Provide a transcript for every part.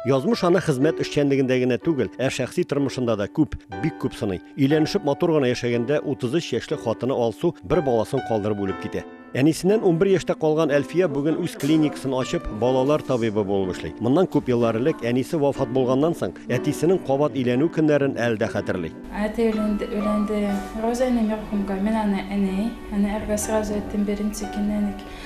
Язмыш аны хезмәт эшчәнлегендә генә түгел, ә шәхси тормышында да күп, бик күп сыный. Өйләнешеп матур гына яшәгәндә 33 яшьле хатыны Алсу бер баласын калдырып үлеп китә. Әнисеннән 11 яшьтә калган Әлфия бүген үз клиникасын ачып, балалар табибы булып эшли. Моннан күп еллар элек әнисе вафат булганнан соң, әтисенең кабат өйләнү көннәрен әле дә хәтерли. Әти өйләнде, өйләнде. Роза әни мәрхүмгә, мин аны әни, әни әргә сразу әйттем, беренче көннән үк.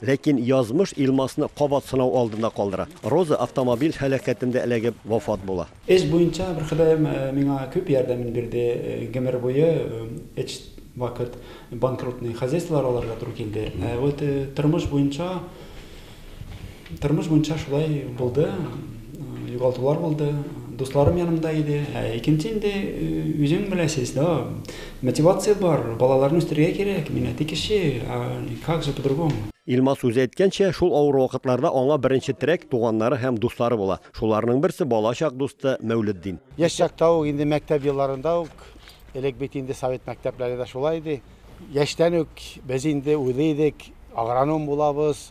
Ләкин язмыш Илмасны кабат сынау алдында калдыра. Роза автомобиль һәлакәтендә эләгеп вафат була. Эш буенча бер Ходаем миңа күп ярдәмен бирде. Гомер буе өч вакыт банкротный хозяйстволар алырга туры килде. Ә вот тормыш буенча, тормыш буенча шулай булды. Югалтулар булды. Дусларым янымда иде. Ә икенче инде үзең беләсез, да, мотивация бар, балаларны үстерергә кирәк, мин әти кеше, а как же по-другому. Илмас үзе әйткәнчә, шул авыр вакытларда аңа беренче терәк туганнары һәм дуслары була. Шуларның берсе бала чак дусты Мәүлетдин. Яшь чакта ук, инде мәктәп елларында ук, элек бит инде совет мәктәпләре дә шулай иде, яшьтән үк без инде уйлый идек, агроном булабыз,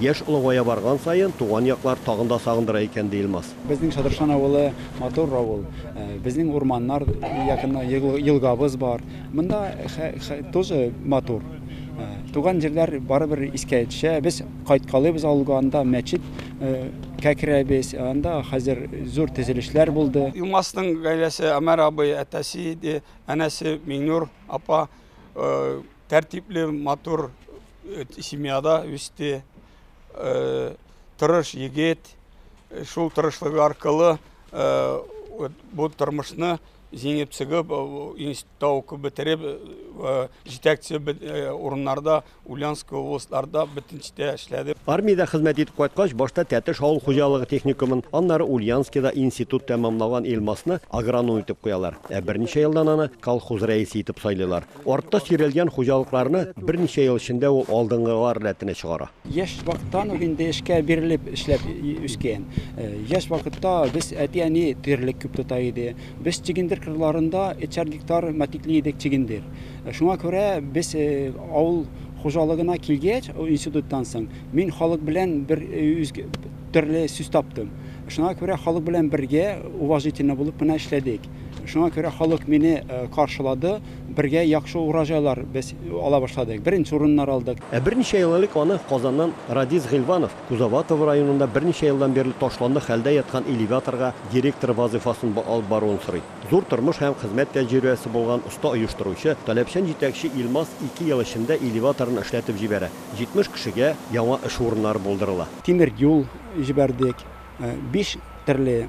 Яшь олыгая барган саен, туган яклар тагын да сагындыра икән, ди Илмас. Безнең Шадыршан авылы матур авыл. Безнең урманнар якын, елгабыз бар. Монда тоже матур. Туган җирләр барыбер искә төшә. Без кайткалыйбыз авылга, анда мәчет кә керәбез. Анда хәзер зур төзелешләр булды. Илмасның гаиләсе, Омәр абый, әтәсе иде, әнәсе Миңнур апа, Тәртипле, матур э, семьяда үсте. Э, тырыш егет. Э, шул тырышлыгы аркылы бу тормышны җиңеп чыгып, институтта укып бетереп, җитәкче урыннарда, Ульяновск областьларда бөтенчә эшләде. Армиядә хезмәт итеп кайткач, башта Тәтеш авыл хуҗалыгы техникумын, аннары Ульяновскида институт тәмамлаган Илмасны агроном итеп куялар. Ә берничә елдан аны колхоз рәисе итеп сайлыйлар. Артта сөйрәлгән хуҗалыкларны берничә ел эчендә ул алдынгылар рәтенә чыгара. Яшь вакыттан ук инде эшкә бирелеп эшләп үскән. Яшь вакытта без әти-әни терлек күп тота иде. Без чөгендер кырларында өчәр гектар матикли идек чөгендер. Шуңа күрә без авыл хуҗалыгына килгәч, институттан соң, мин халык белән бер төрле сүз таптым. Шуңа күрә халык белән бергә уважительно булып кына эшләдек. Шуңа күрә халык мине каршылады, бергә яхшы урожайлар без ала башладык, беренче урыннар алдык. Ә берничә ел элек аны Казаннан Радис Гыйльванов Кузоватово районында берничә елдан бирле ташландык хәлдә яткан элеваторга директор вазыйфасын алып баруын сорый. Зур тормыш һәм хезмәт тәҗрибәсе булган оста оештыручы, таләпчән җитәкче Илмас ике ел эчендә элеваторын эшләтеп җибәрә, 70 кешегә яңа эш урыннары булдырыла. Тимер юл җибәрдек, биш төрле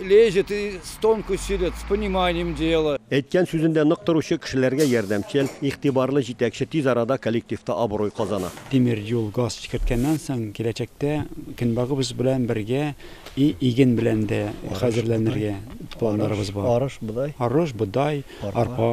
Лезет и с тонкой силет, с пониманием дела. Әйткән сүзендә нык торучы, кешеләргә ярдәмчел, игътибарлы җитәкче тиз арада коллективта абруй казана. Тимер юл, газ чикерткәннән соң, киләчәктә көнбагыбыз белән бергә и иген белән дә хәзерләнергә планнарыбыз бар. Арыш, бодай. Арыш, бодай, арпа.